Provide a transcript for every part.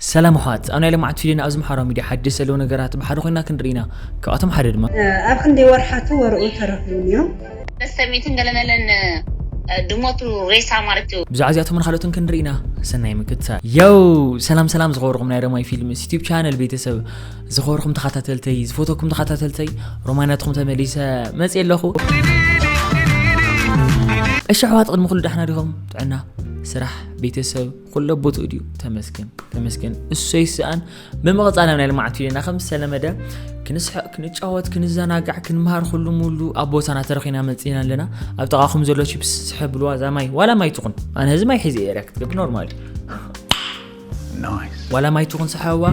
ሰላም ኣሕዋት ኣብ ናይ ለማዓት ፊደና ኣብዚ ማሕበራዊ ሚድያ ሓደሽቲ ዘለዉ ነገራት ብሓደ ኮይና ክንርኢ ኢና ካብኣቶም ሓደ ድማ። ኣብ ክንደይ ወርሓቱ ወርኡ ተረኪቡ ኔሩ። በስተርቤትን ገለመለን ድሞቱ ሬሳ ማለቱ። ብዛዕባ እዚኣቶምን ኻልኦትን ክንርኢ ኢና ሰናይ ምክትታል። ዮው ሰላም ሰላም ዝኸበርኹም ናይ ረማይ ፊልምስ ዩቲብ ቻነል ቤተሰብ ዝኸበርኹም ተኻታተልተይ ዝፈተኩም ተኻታተልተይ ሮማይ ናትኹም ተመሊሰ መጽየ ኣለኹ እሺ ኣሕዋት ቅድሚ ኩሉ ዳሕና ዲኹም ጥዕና ስራሕ ቤተሰብ ኩሎ ቦትኡ ድዩ ተመስገን ተመስገን እሰይ ስኣን ብምቕፃል ናይ ልምዓት ቪድዮና ከም ዝተለመደ ክንስሕቕ ክንጫወት ክንዘናጋዕ ክንምሃር ኩሉ ሙሉ ኣብ ቦታና ተረኺና መፅና ኣለና ኣብ ጥቓኹም ዘሎ ቺፕስ ዝሕብልዋ እዛ ማይ ዋላ ማይ ትኹን ኣነ ህዚ ማይ ሒዘ ኤርያ ክትገብር ኖርማል ዋላ ማይ ትኹን ሰሓዋ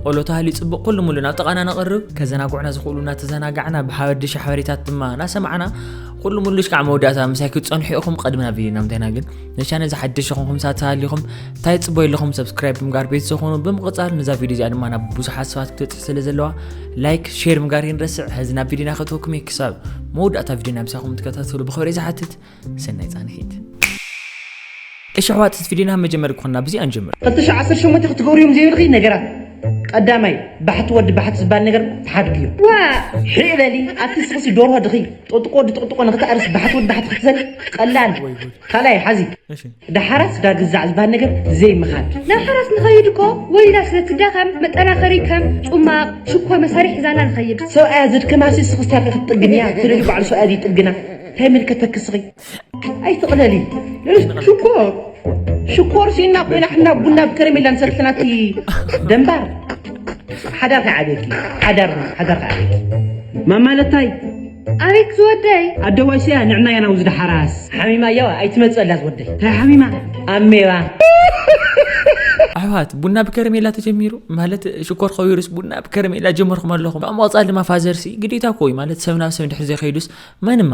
ቆሎ ተሃልዩ ፅቡቕ ኩሉ ሙሉ ናብ ጥቓና ነቕርብ ከዘናጉዕና ዝኽእሉ እናተዘናጋዕና ብሓበድሽ ሓበሬታት ድማ እናሰማዕና ኩሉ ሙሉሽ ከዓ መወዳእታ ምሳይ ክትፀንሑ ኢኹም ቐድሚ ናብ ቪድዮ ናምታይና ግን ንቻነል ዝሓደሽ ኹንኩም ሳት ተሃሊኹም እንታይ ጽበዩ ኣለኹም ሰብስክራይብ ብምጋር ቤት ዝኾኑ ብምቕጻል ነዛ ቪድዮ እዚኣ ድማ ናብ ብዙሓት ሰባት ክትበጽሕ ስለ ዘለዋ ላይክ ሼር ምጋር ይንረስዕ ሕዚ ናብ ቪድዮና ከትወኩም እየ ክሳብ መወዳእታ ቪድዮ ናብ ሳኹም ትከታተሉ ብኽብሪ ዝሓትት ሰናይ ጻንሒት እሺ ኣሕዋት እዚ ቪድዮና መጀመሪ ክኾና ብዚኣ ንጀምር ቅጥሽ 18 ክትገብርዮም ዘይብልኺ ነገራት ቀዳማይ ባሕቲ ወዲ ባሕቲ ዝበሃል ነገር ተሓድግዮ ዋ ሕበሊ ኣቲ ስኽሲ ዶርሆ ድኺ ጥጥቆ ድጥቅጥቆ ንክተዕርስ ባሕቲ ወዲ ባሕቲ ክትዘል ቀላል ወይ ጉድ ካልኣይ ሓዚ እሺ ዳሓራስ ዳ ግዛዕ ዝበሃል ነገር ዘይምኻድ ናብ ሓራስ ንኸይድ እኮ ወሊዳ ስለ ትዳኸም መጠናኸሪ ከም ጹማቕ ሽኮር መሳርሒ ሒዛላ ንኸይድ ሰብኣያ ዘድከማሲ ስኽስታኪ ክትጥግንያ ትደልዩ ባዕሉ ሰብኣያ ዝይጥግና ታይ ይምልከተኪ ስኺ ኣይትቕለሊ ሽኮር ሽኮር ሲና ኮይና ሕና ቡና ብከረሜላ ንሰትልናቲ ደንባር ሓዳር ከዓብየኪ ሓዳር ሓዳር ከዓብየኪ ማማለታይ ኣቤት ዝወደይ ኣደዋይ ሰያ ንዕና ያና ውዝ ድሓራስ ሓሚማ ያዋ ኣይትመፅላ ዝወደይ ታይ ሓሚማ ኣሜባ ኣሕዋት ቡና ብከረሜላ ተጀሚሩ ማለት ሽኮር ከቢሩስ ቡና ብከረሜላ ጀመርኩም ኣለኹም ኣብ መቕፃል ድማ ፋዘርሲ ግዴታ ኮይ ማለት ሰብ ናብ ሰብ ድሕሪ ዘይከይዱስ መንማ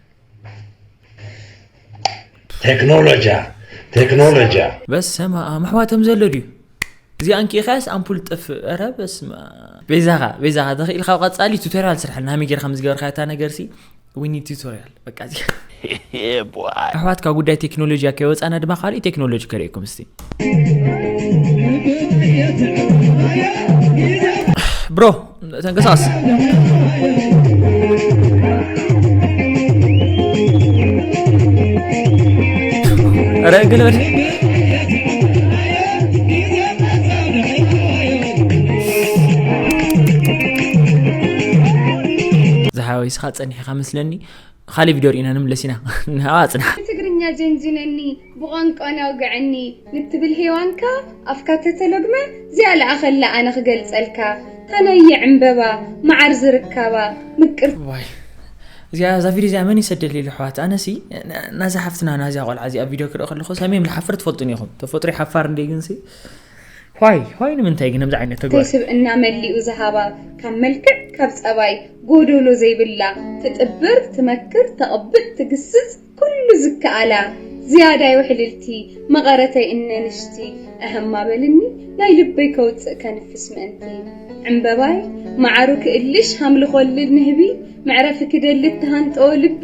ቴክኖሎጅያ ቴክኖሎጅያ በሰማኣም ኣሕዋቶም ዘሎ ድዩ እዚኣ እንኪኢኻያስ ኣምፑል ጥፍእ ረ በስማ ቤዛኻ ቤዛኻ ተኽኢል ካብ ቀፃሊ ቱቶሪያል ስራሕልና ሃመይ ጌርካ ምስ ገበርካ እታ ነገርሲ ዊኒ ቱቶሪያል በቃ እዚ ኣሕዋትካ ጉዳይ ቴክኖሎጂ ከይወፃና ድማ ካልእ ቴክኖሎጂ ከርእየኩም እስቲ ብሮ ተንቀሳቀስ ኧረ ግልበል ዝሓወይ ስኻ ፀኒሕኻ መስለኒ ካሊእ ቪድዮ ርኢና ንምለስ ኢና ንሃዋ ፅናሕ ትግርኛ ጀንጅነኒ ብቋንቋና ኣውግዐኒ ንትብል ሄዋንካ ኣፍካ ተተሎግመ እዚኣ ልኣኸላ ኣነ ክገልጸልካ እታ ናይ ይዕንበባ ማዓር ዝርካባ ምቅርቲ። እዋይ እዚኣ እዛ ቪድዮ እዚኣ መን ይሰደልይ ልሕዋት ኣነሲ ናዛ ሓፍትና ናዛ ቆልዓ እዚኣ ቪድዮ ክርኢ ከለኹ ሰሜም ልሓፍር ትፈልጡኒ ኢኹም ተፈጥሮ ሓፋር እንዴ ግንሲ ዋይ ዋይ ንምንታይ ግን ከምዚ ዓይነት ተግባር ስብእና መሊኡ ዝሃባ ካብ መልክዕ ካብ ጸባይ ጎዶሎ ዘይብላ ትጥብር ትመክር ተቕብጥ ትግስጽ ኩሉ ዝከኣላ ዝያዳይ ውሕልልቲ መቐረተይ እነ ንሽቲ እህማ በልኒ ናይ ልበይ ከውጽእ ከንፍስ ምእንቲ ዕምበባይ መዓሩ ክእልሽ ሃምሊ ኮልል ንህቢ መዕረፊ ክደሊ እተሃንጠወ ልቢ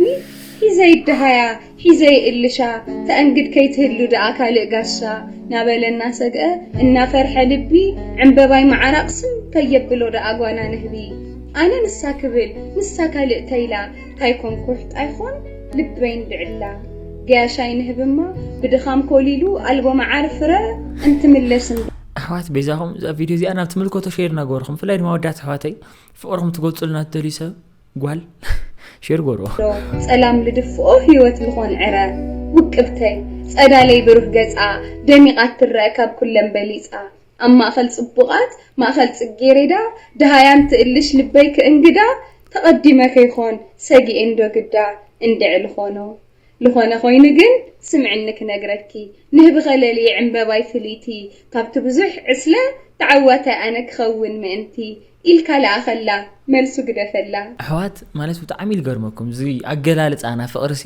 ሒዘ ይደሃያ ሒዘ ይእልሻ ተእንግድ ከይትህሉ ደኣ ካልእ ጋሻ ናበለ እናሰግኣ እናፈርሐ ልቢ ዕምበባይ መዓራ ቕስም ከየብሎ ደኣ ጓና ንህቢ ኣነ ንሳ ክብል ንሳ ካልእ ተይላ ታይ ኮን ኩሕት ኣይኾን ልበይ ንብዕላ ገያሻይ ንህብማ ብድኻም ኮሊሉ ኣልቦ መዓር ፍረ እንትምለስ እንዶ። ኣሕዋት በይዛኹም እዛ ቪድዮ እዚኣ ናብ ትምልከቶ ሼር እናገበርኹም ብፍላይ ድማ ወዳት ኣሕዋተይ ፍቕርኹም ትገልጹልና ትደልዩ ሰብ ጓል ሼር ገበርዎ ጸላም ልድፍኦ ህይወት ልኾን ዕረ ውቅብተይ ጸዳለይ ብሩህ ገጻ ደሚቓ ትረአ ካብ ኩለን በሊጻ ኣብ ማእከል ጽቡቓት ማእከል ጽጌሬዳ ደሃያን ትእልሽ ልበይ ክእንግዳ ተቐዲመ ከይኮን ሰጊኤ እንዶ ግዳ እንድዒ ልኾኖ ልኾነ ኮይኑ ግን ስምዕኒ ክነግረኪ ንህብኸ ለልየ ዕንበባይ ፍልይቲ ካብቲ ብዙሕ ዕስለ ተዓዋታይ ኣነ ክኸውን ምእንቲ ኢልካ ልኣኸላ መልሱ ግደፈላ። ኣሕዋት ማለት ብጣዕሚ እዩ ልገርመኩም እዚ ኣገላልጻ ናፍቅሪ ሲ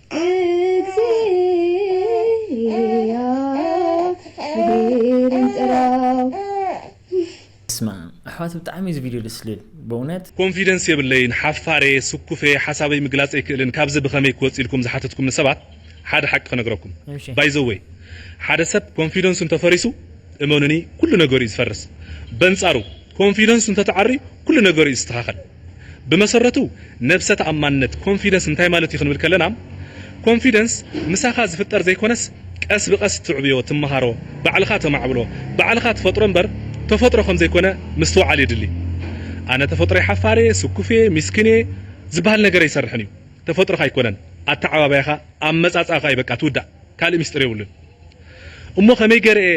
እግዚኣብሄርን ጥራው። በስመኣም ኣሕዋት ብጣዕሚ እዩ እዚ ቪድዮ ደስ ልብል በእውነት። ኮንፊደንስ የብለይን ሓፋርየ ስኩፍየ ሓሳበይ ምግላፅ ኣይክእልን ካብዚ ብከመይ ክወፅ ኢልኩም ዝሓተትኩምኒ ሰባት ሓደ ሓቂ ክነግረኩም እሺ። ባይ ዘ ዌይ ሓደ ሰብ ኮንፊደንሱ እንተፈሪሱ እመኑኒ ኩሉ ነገሩ እዩ ዝፈርስ በንፃሩ ኮንፊደንሱ እንተተዓርዩ ኩሉ ነገሩ እዩ ዝስተካከል ብመሰረቱ ነብሰ ተኣማንነት፣ Confidence፣ እንታይ ማለት እዩ ክንብል ከለና Confidence ምሳኻ ዝፍጠር ዘይኮነስ ቀስ ብቀስ ትዕብዮ፣ ትመሃሮ፣ ባዕልኻ ተማዕብሎ፣ ባዕልኻ ትፈጥሮ እምበር ተፈጥሮ ከም ዘይኮነ ምስትውዓል የድሊ። ኣነ ተፈጥሮይ ሓፋር እየ፣ ስኩፍ እየ፣ ሚስኪን እየ ዝብሃል ነገር ኣይሰርሕን እዩ። ተፈጥሮኻ ኣይኮነን ኣተዓባብያኻ፣ ኣመጻጽኣኻ እዩ በቃ እቲ ውዳእ ካልእ ሚስጢር የብሉን። እሞ ከመይ ገይረ እየ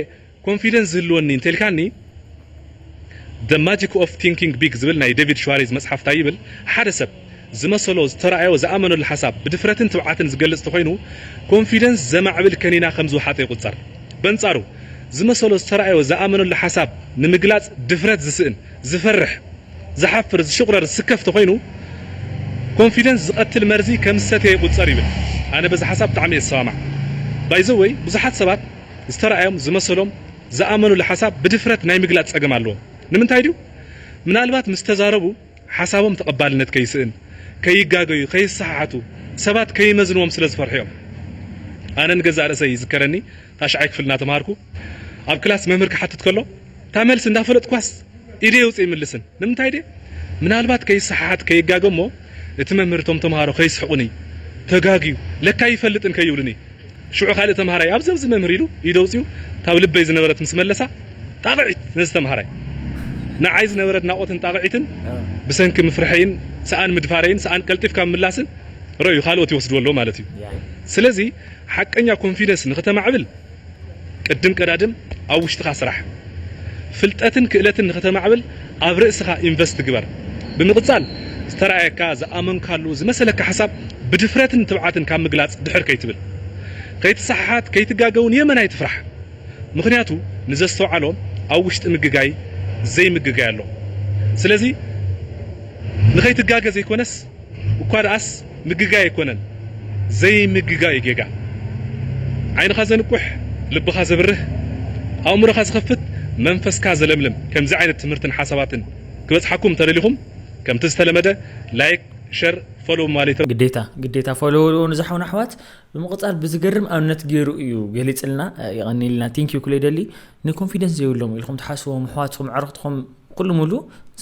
ኮንፊደንስ ዝህልወኒ እንተልካኒ The Magic of Thinking Big ዝብል ናይ ደቪድ ሽዋሬዝ መጽሓፍ ታይ ይብል ሓደ ሰብ ዝመሰሎ ዝተራኣዮ ዝኣመነሉ ሓሳብ ብድፍረትን ትብዓትን ዝገልጽ ተኾይኑ ኮንፊደንስ ዘማዕብል ከኒና ከም ዝውሓጦ ይቁጸር በንጻሩ ዝመሰሎ ዝተራኣዮ ዝኣመነሉ ሓሳብ ንምግላጽ ድፍረት ዝስእን ዝፈርሕ ዝሓፍር ዝሽቁረር ዝስከፍ ተኾይኑ ኮንፊደንስ ዝቀትል መርዚ ከም ዝሰተየ ይቁጸር ይብል ኣነ በዚ ሓሳብ ብጣዕሚ እየ ዝሰማማዕ ባይዘወይ ብዙሓት ሰባት ዝተራእዮም፣ ዝመሰሎም፣ ዝኣመኑሉ ሓሳብ ብድፍረት ናይ ምግላጽ ጸገም ኣለዎም። ንምንታይ ድዩ? ምናልባት ምስ ተዛረቡ ሓሳቦም ተቐባልነት ከይስእን፣ ከይጋገዩ፣ ከይሰሓሓቱ፣ ሰባት ከይመዝንዎም ስለ ዝፈርሑ'ዮም። ኣነ ንገዛእ ርእሰይ ይዝከረኒ ታሽዓይ ክፍሊ እናተማሃርኩ ኣብ ክላስ መምህር ክሓትት ከሎ፣ እታ መልሲ እንዳፈለጥኳስ ኢደይ ኣውጺ ኣይምልስን ንምንታይ ድየ ምናልባት ከይሰሓሓት ከይጋገ እሞ እቲ መምህር እቶም ተምሃሮ ከይስሕቁኒ ተጋግዩ ለካ ኣይፈልጥን ከይብሉኒ ሽዑ ካልእ ተምሃራይ ኣብዚ ኣብዚ መምህር ኢሉ ኢዱ ኣውጺኡ እታ ኣብ ልበይ ዝነበረት ምስ መለሳ ጣቕዒት ነዚ ተምሃራይ ንዓይ ዝነበረ ኣድናቖትን ጣቕዒትን ብሰንኪ ምፍርሐይን ሰኣን ምድፋረይን ሰኣን ቀልጢፍካ ምምላስን ረእዩ ካልኦት ይወስድዎ ኣለዉ ማለት እዩ ስለዚ ሓቀኛ ኮንፊደንስ ንክተማዕብል ቅድም ቀዳድም ኣብ ውሽጥኻ ስራሕ። ፍልጠትን ክእለትን ንክተማዕብል ኣብ ርእስኻ ኢንቨስት ግበር። ብምቅጻል ዝተራኣየካ፣ ዝኣመንካሉ፣ ዝመሰለካ ሓሳብ ብድፍረትን ትብዓትን ካብ ምግላጽ ድሕር ከይትብል። ከይትሰሓሓት ከይትጋገ ውን የመን ኣይትፍራሕ። ምኽንያቱ ንዘስተውዓሎ ኣብ ውሽጢ ምግጋይ ዘይምግጋይ ኣሎ። ስለዚ ንከይትጋገ ዘይኮነስ። እኳ ደኣስ ምግጋይ ኣይኮነን ዘይምግጋይ እዩ ጌጋ። ዓይንኻ ዘንቁሕ ልብኻ ዘብርህ ኣእምሮኻ ዝኸፍት መንፈስካ ዘለምልም ከምዚ ዓይነት ትምህርትን ሓሳባትን ክበጽሓኩም እንተደሊኹም ከምቲ ዝተለመደ ላይክ ሸር ፎሎው ማሌት ግዴታ ግዴታ ፎሎው ንዛሓውን ኣሕዋት ብምቕጻል ብዝገርም ኣብነት ገይሩ እዩ ገሊጽልና ይቐኒልና ቲንክ ዩ ኩለይ ደሊ ንኮንፊደንስ ዘይብሎም ኢልኩም ትሓስዎም ኣሕዋትኩም ዕርኽትኩም ኩሉ ሙሉ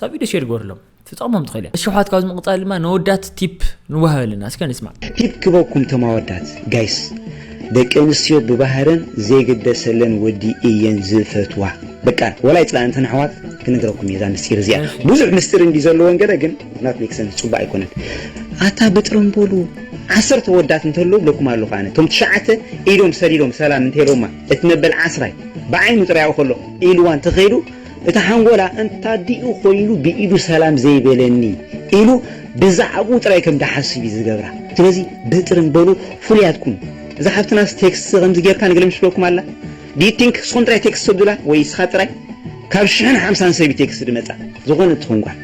ሳ ቪድዮ ሼር ገርሎም ትጠቕሞም ትኽእል እያ። እሺ ኣሕዋት ካብዚ ምቕጻል ድማ ነወዳት ቲፕ ንዋሃብ ኣለና እስከ ንስማዕ። ቲፕ ክበኩም ቶም ኣወዳት ጋይስ ደቂ ኣንስትዮ ብባህረን ዘይግደሰለን ወዲ እየን ዝፈትዋ በቃ ወላ ይጽላኣን እተን ኣሕዋት ክነግረኩም እየ እዛ ምስጢር እዚኣ ብዙሕ ምስጢር እንዲ ዘለወን ገለ ግን ናት ሜክ ሰንስ ጽቡቅ ኣይኮነን ኣታ ብጥረምቦሉ ዓሰርተ ወዳት እንተለዉ ብለኩም ኣለኹ ኣነ እቶም ትሽዓተ ኢዶም ሰዲዶም ሰላም እንተኢሎማ እቲ መበል ዓስራይ ብዓይኑ ጥራይ ኣብኡ ከሎ ኢልዋን ተኸይዱ እቲ ሓንጎላ እንታዲኡ ኮይኑ ብኢዱ ሰላም ዘይበለኒ ኢሉ ብዛዕብኡ ጥራይ ከም ድሓስብ እዩ ዝገብራ ስለዚ በጥርን በሉ ፍሉያት ኩኑ እዛ ሓብትናስ ቴክስት ከምዚ ጌርካ ንግለምሽ ትብለኩም ኣላ do you think ንስኩም ጥራይ ቴክስት ተብሉላ ወይ ንስካ ጥራይ ካብ ሽሕን ሓምሳን ሰብ እዩ ቴክስት ድመጻ ዝኮነት ትኩን ጓል።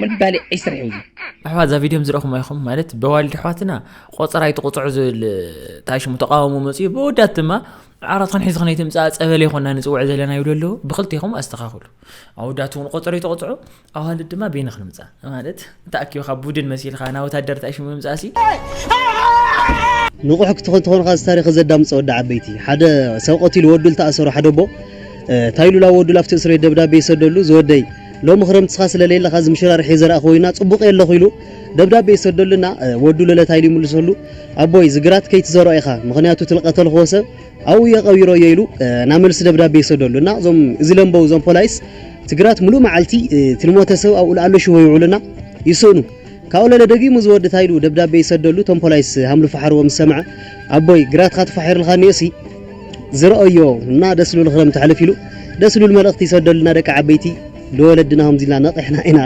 ምባሊ ዒስር እዩ ኣሕዋት እዛ ቪድዮም ዝረኹም ኣይኹም ማለት በዋልድ ኣሕዋትና ቆፀራ ይትቁፅዑ ዝብል እንታይ ሽሙ ተቃውሞ መፅኡ ብወዳት ድማ ዓራት ክንሒዝ ክነይ ትምፃእ ፀበለ ይኮና ንፅውዕ ዘለና ይብሉ ኣለዉ ብክልቴኹም ኣስተኻኽሉ ኣወዳት እውን ቆፀሮ ይተቆፅዑ ኣዋልድ ድማ ቤኒ ክንምፃእ ማለት ተኣኪብካ ቡድን መሲልካ ናብ ወታደር እንታይ ሽሙ ምምፃእ ሲ ንቑሕ ክትኾን ትኾን ኻዚ ታሪኽ ዘዳምፀ ወዲ ዓበይቲ ሓደ ሰብ ቀቲሉ ወዱ ዝተኣሰሩ ሓደ ኣቦ ታይሉላ ወዱ ላፍቲ እስር ቤት ደብዳቤ ይሰደሉ ዝወደይ ሎሚ ክረምቲ እስኻ ስለ ለየለኻ እዚ ምሽራርሕ እየ ዘርኣ ኮይና ጽቡቕ እየ ኣለኹ ኢሉ ደብዳቤ ይሰደሉ እና ወዱ ለለታ ኢሉ ይምልሰሉ ኣቦይ እዚ ግራት ከይትዘርኦ ኢኻ ምኽንያቱ እቲ ልቀተልኽዎ ሰብ ኣብኡ እየ ቀቢሮ እየ ኢሉ ናይ መልሲ ደብዳቤ ይሰደሉ እና እዞም እዚ ለንበው እዞም ፖላይስ እቲ ግራት ምሉእ መዓልቲ እቲ ልሞተ ሰብ ኣብኡ ልኣሎ ሽቦ ይውዕሉ እና ይስእኑ ካብኡ ለለ ደጊሙ እዚ ወዲ ታይ ኢሉ ደብዳቤ ይሰደሉ እቶም ፖላይስ ሃምሉ ፋሓርዎ ምስ ሰምዐ ኣቦይ ግራትኻ ተፋሒርልካ እኒኦሲ ዝረኦዮ እና ደስ ልብል ክረምቲ ሕልፍ ኢሉ ደስ ልብል መልእክቲ ይሰደሉና ደቂ ዓበይቲ ልወለድና ከምዚ ኢልና ነቂሕና ኢና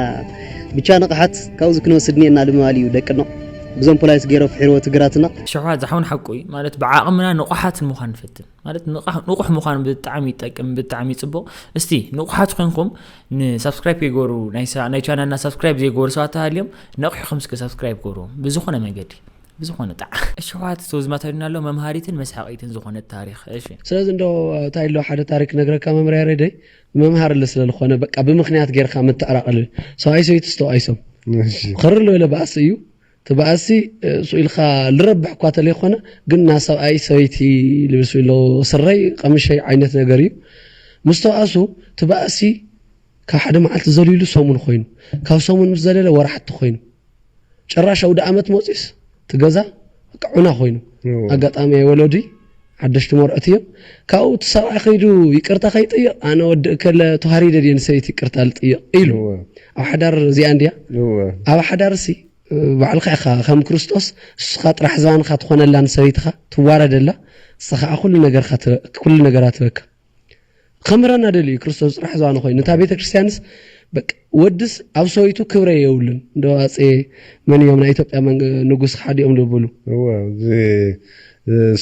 ብቻ ንቅሓት ካብዚ ክንወስድ እኒኤና ልምባል እዩ ደቅኖ ብዞም ፖላይስ ገይሮ ፍሒርዎ ትግራትና። ሸውሃት ዝሓውን ሓቁ እዩ ማለት ብዓቕምና ንቑሓት ንምዃን ንፈትን ማለት ንቑሕ ምዃን ብጣዕሚ ይጠቅም ብጣዕሚ ይፅቡቕ እስቲ ንቑሓት ኮይንኩም ንሳብስክራይብ ይገሩ ናይ ቻናልና ሳብስክራይብ ዘይገበሩ ሰባት ተሃልዮም ነቑሕኹም እስከ ሳብስክራይብ ገሩ ብዝኾነ መንገዲ ብዝኾነ ጣዕ እሽሕዋት እቶ ዝማታዩና ኣሎ መምሃሪትን መስሓቂትን ዝኾነት ታሪኽ እሺ። ስለዚ እንዶ ታይ ኣሎ ሓደ ታሪክ ክነግረካ መምህር ያሬደይ መምሃርሊ ስለ ልኾነ በቃ ብምክንያት ገይርካ ምትዕራቅሊ ሰብኣይ ሰበይቲ ዝተባኢሶም ኽርር ልበለ ባእሲ እዩ እቲ ባእሲ ሱቅ ኢልካ ልረብሕ እኳ ተለይኾነ ግን እና ሰብኣይ ሰበይቲ ልብስ ኢሎ ስረይ ቀምሸይ ዓይነት ነገር እዩ ምስ ተባእሱ እቲ ባእሲ ካብ ሓደ መዓልቲ ዘልይሉ ሰሙን ኾይኑ ካብ ሰሙን ምስ ዘለለ ወራሕቲ ኾይኑ ጭራሽ ኣውደኣመት መጺኡስ እቲ ገዛ በቃ ዑና ኮይኑ ኣጋጣሚ ወለዱይ ሓደሽቲ መርዑት እዮም ካብኡ እቲ ሰብኣይ ከይዱ ይቅርታ ከይጥይቕ ኣነ ወዲ እከለ ተዋሪደ ድየ ንሰበይቲ ይቅርታ ልጥይቕ ኢሉ ኣብ ሓዳር እዚኣ እንድያ ኣብ ሓዳር ሲ ባዕልካ ኢኻ ከም ክርስቶስ ንስኻ ጥራሕ ዝባንካ ትኾነላ ንሰበይትኻ ትዋረደላ ንስኻ ኩሉ ነገርካ ኩሉ ነገራ ትበካ ክምረና ደልዩ ክርስቶስ ጽራሕ ዝዋነ ኮይኑ እታ ቤተ ክርስቲያንስ ወድስ ኣብ ሰበይቱ ክብረ የብሉን እንደ ኣፄ መን እዮም ናይ ኢትዮጵያ ንጉስ ሓዲኦም ዝብሉ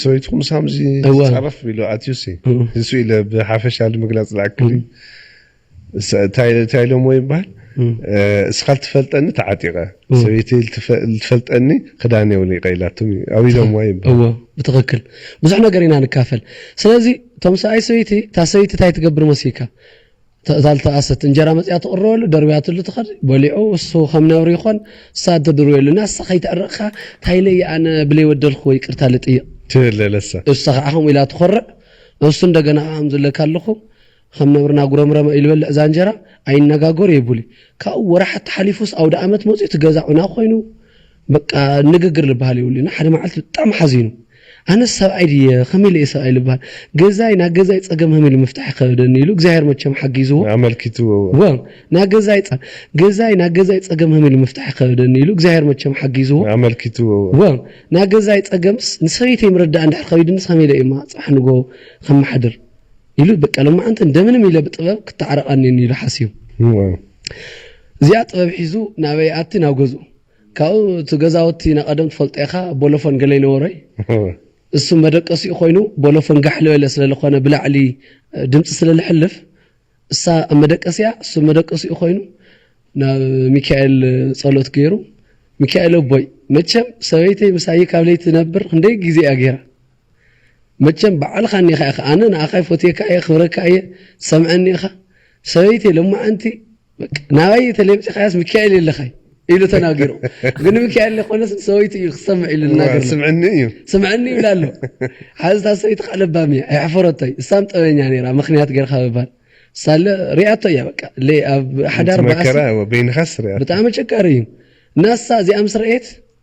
ሰበይቱ ምስ ሃምዚ ዝፀረፍ ኢሉ ኣትዩሲ ንሱ ኢለ ብሓፈሻ ንምግላፅ ዝኣክል እታይ ኢሎምዎ ይባሃል እስኻ ልትፈልጠኒ ተዓጢቀ ሰበይተይ ልትፈልጠኒ ክዳነይ ኣውሊቀ ኢላቶም እዩ ኣብ ኢሎምዋ ይባሃል። እዎ ብትክክል ብዙሕ ነገር ኢና ንካፈል ስለዚ እቶም ሰብኣይ ሰበይቲ እታ ሰበይቲ እንታይ ትገብር መሲካ እታ ልተኣሰት እንጀራ መፅያ ትቕረበሉ ደርብያትሉ ትኸድ በሊዑ እሱ ከም ነብሪ ይኾን እሳ ትድርበሉ እና እሳ ከይተዕረቕካ ታይለይ ኣነ ብለይ ወደልክዎ ይቅርታ ልጥይቕ ትብለለሳ እሳ ከዓ ከምኡ ኢላ ትኾርዕ እሱ እንደገና ኣም ዝለካ ኣለኹ ኸም ነብርና ጉረምረመ ኢሉ በልዕ ዛንጀራ ኣይነጋገሮ የቡሊ ካብኡ ወራሓት ተሓሊፉስ ኣውዳኣመት መጽዩ እቲ ገዛ ዑና ኮይኑ በቃ ንግግር ልባሃል የብሉይ እና ሓደ ማዓልቲ ብጣዕሚ ሓዚኑ ኣነስ ሰብኣይ ድየ ኸመይ ኢለ እየ ሰብኣይ ልባሃል ገዛይ ናይ ገዛይ ጸገም ሀመይ ኢለ ምፍታሕ ይኸበደኒ ኢሉ እግዚኣብሔር መቸም ሓጊዝዎ ኣመልኪትዎ እወ ናይ ገዛይ ገዛይ ናይ ገዛይ ጸገም ሀመይ ኢለ ምፍታሕ ይኸበደኒ ኢሉ እግዚኣብሔር መቸም ሓጊዝዎ ኣመልኪትዎ እወ ናይ ገዛይ ጸገምስ ንሰበይተይ ምርዳእ እንድሕር ኸቢድንስ ሀመይ ኢለ እየ እማ ጽባሕ ንግሆ ኸማሓድር ኢሉ በቃ ሎማዓንቲ እንደምንም ኢለ ብጥበብ ክተዓረቕ ኣኒኒ ኢሉ ሓሲቡ እዚኣ ጥበብ ሒዙ ናበይ ይኣቲ ናብ ገዝኡ ካብኡ እቲ ገዛውቲ ናይ ቀደም ትፈልጦ ኢኻ ቦሎፎን ገለ ይነበሮይ እሱ መደቀሲኡ ኮይኑ ቦሎፎን ጋሕ ልበለ ስለ ልኾነ ብላዕሊ ድምፂ ስለ ልሕልፍ እሳ ኣብ መደቀሲያ እሱ መደቀሲኡ ኮይኑ ናብ ሚካኤል ጸሎት ገይሩ ሚካኤል ኣቦይ መቸም ሰበይተይ ምሳይ ካብ ለይቲ ነብር ክንደይ ግዜ እያ ገይራ መቸም ባዕልኻ እኒኻ ኢኻ ኣነ ንኣኻ ይፎትየካ እየ ክብረካ እየ ሰምዐኒ ኢኻ ሰበይቲ ልማዓንቲ ናባይ ተሌምፂኻያስ ሚካኤል የለኻይ ኢሉ ተናጊሩ ግን ሚካኤል ኮነስ ሰበይቲ እዩ ክሰምዕ ኢሉ ናገር ስምዕኒ እዩ ስምዕኒ ይብላ ኣሎ ሓዚ እታ ሰበይቲ ከዓ ለባም እያ ኣይሕፈረቶይ እሳም ጠበኛ ነይራ ምክንያት ገርካ ምባል ሳለ ሪኣቶ እያ በቃ ኣብ ሓዳር ባእሲ ብጣዕሚ ጨካሪ እዩ ናሳ እዚኣ ምስ ረኤት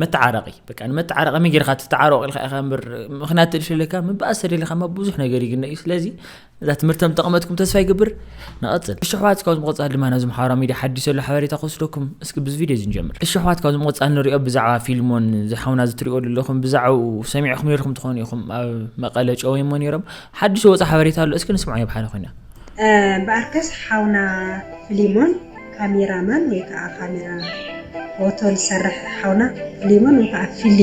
መተዓረቂ በቃ ንመተዓረቂ መይ ጌርካ ትተዓረቁ ኢልካ ኢኻ እምበር ምክንያት ትልሽለካ ምባእስ ተደሊካ ማ ብዙሕ ነገር ይግነ እዩ ስለዚ እዛ ትምህርቲ ከም ጠቕመትኩም ተስፋ ይገብር ንቐፅል እሺ ኣሕዋት ካብዚ ምቕፃል ድማ ናብዚ ማሕበራዊ ሚድያ ሓዲስ ዘሎ ሓበሬታ ክወስደኩም እስኪ ብዚ ቪድዮ እዚ ንጀምር እሺ ኣሕዋት ካብዚ ምቕፃል ንሪኦ ብዛዕባ ፊልሞን ዝሓውና ዝትሪኦ ዘለኹም ብዛዕኡ ሰሚዕኹም ነርኩም ትኾኑ ኢኹም ኣብ መቐለ ጨወይሞ ነይሮም ሓዲስ ወፃ ሓበሬታ ኣሎ እስኪ ንስምዖ የብሓደ ኮይና እምበኣርከስ ሓውና ፍሊሞን ካሜራ ማን ወይ ከኣ ካሜራ ፎቶ ዝሰርሕ ሓውና ፍሊሞን ወይ ከኣ ፊሊ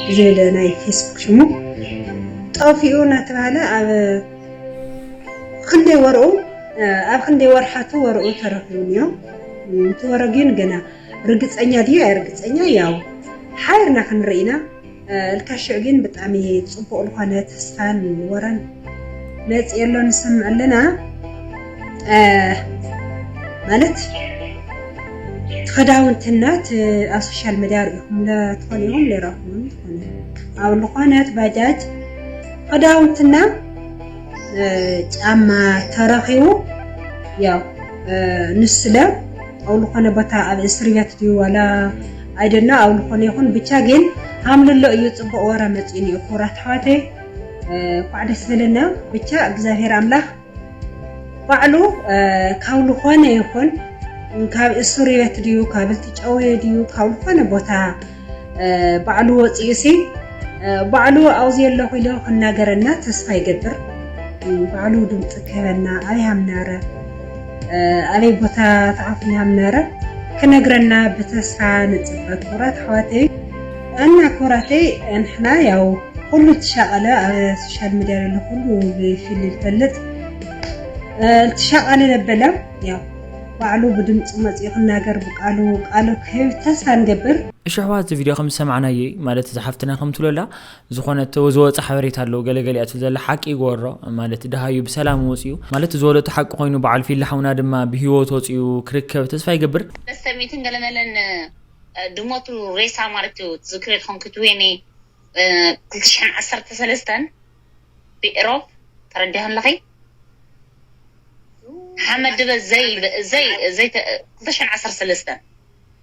ብዝብል ናይ ፌስቡክ ሽሙ ጠፊኡ እናተባህለ ኣብ ክንደይ ወርኡ ኣብ ክንደይ ወርሓቱ ወርኡ ተረኺቡ እንዮ እቲ ወረ ግን ገና ርግጸኛ ድዩ ኣይርግጸኛ ያው ሓቢርና ክንርኢና እልካ ሽዕ ግን ብጣሚ ጽቡቅ ልኮነ ተስፋን ወረን መጽ የሎ ንሰምዕ ኣለና ማለት ትኸዳውንትና ኣብ ሶሻል መድያ ርኢኹም ለትኾን ኢኹም ለራኹም ትኾነ ኣብ ልኾነት ባጃጅ ኸዳውንትና ጫማ ተረኺቡ ያው ንስለ ኣብ ልኾነ ቦታ ኣብ እስር ቤት ድዩ ዋላ I don't know ኣብ ልኾነ ይኹን ብቻ ግን ሃምልሎ እዩ ፅቡቅ ወረ መፂኡኒ እዩ ክቡራት ኣሕዋተይ እንኳዕ ደስ በለና ብቻ እግዚኣብሔር ኣምላክ ባዕሉ ካብ ልኾነ ይኹን ካብ እሱርቤት ድዩ ካብ ልትጨወየ ድዩ ካብ ልኾነ ቦታ ባዕሉ ወፂኡ ሲ ባዕሉ ኣብኡ ዘለኹ ኢሉ ክናገረና ተስፋ ይገብር ባዕሉ ድምፂ ክህበና ኣይሃምናረ ኣበይ ቦታ ተዓፊና ምነረ ክነግረና ብተስፋ ንጽበ ክቡራት ኣሕዋተይ እና ክቡራተይ ንሕና ያው ኩሉ ትሻቀለ ኣብ ሶሻል ሚዲያ ዘሎ ኩሉ ብፊል ይፈልጥ ትሻቀለ ነበለ ያው ባዕሉ ብድምፁ መፅኡ ክናገር ብቃሉ ቃሉ ክህብ ተስፋ ንገብር እሺ ኣሕዋት እዚ ቪድዮ ከም ዝሰማዕናየይ ማለት እዚ ሓፍትና ከምትብሎ ኣላ ዝኾነ ተወዝወጸ ሓበሬታ ኣሎ ገለ ገሊኣ ትብል ዘላ ሓቂ ይግበሮ ማለት ደሃዩ ብሰላም ወጽዩ ማለት ዝወለቶ ሓቂ ኮይኑ በዓል ፊሊ ሓውና ድማ ብሂወት ወጽዩ ክርከብ ተስፋ ይገብር። መስተሚትን ገለ መለን ድሞቱ ሬሳ ማለት እዩ ትዝክርዮ ተኾንኪ ትዌኒ ክልተ ሽሕን ዓሰርተ ሰለስተን ብኤሮፕ ተረዲኺ ኣለኺ ሓመድ ድበ ዘይ ዘይ ዘይ ክልተ ሽሕን ዓሰርተ ሰለስተን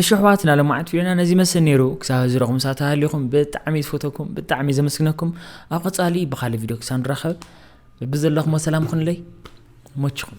እሺ ኣሕዋትና ለማዓት ቪድዮና ነዚ ይመስል ነይሩ ክሳብ ህዚ ረኹም ሳተሃሊኹም ብጣዕሚ ዝፈተኩም ብጣዕሚ ዘመስግነኩም ኣብ ቀፃሊ ብካልእ ቪድዮ ክሳብ ንራኸብ ብዘለኹም ሰላም ኹንለይ ሞችኹም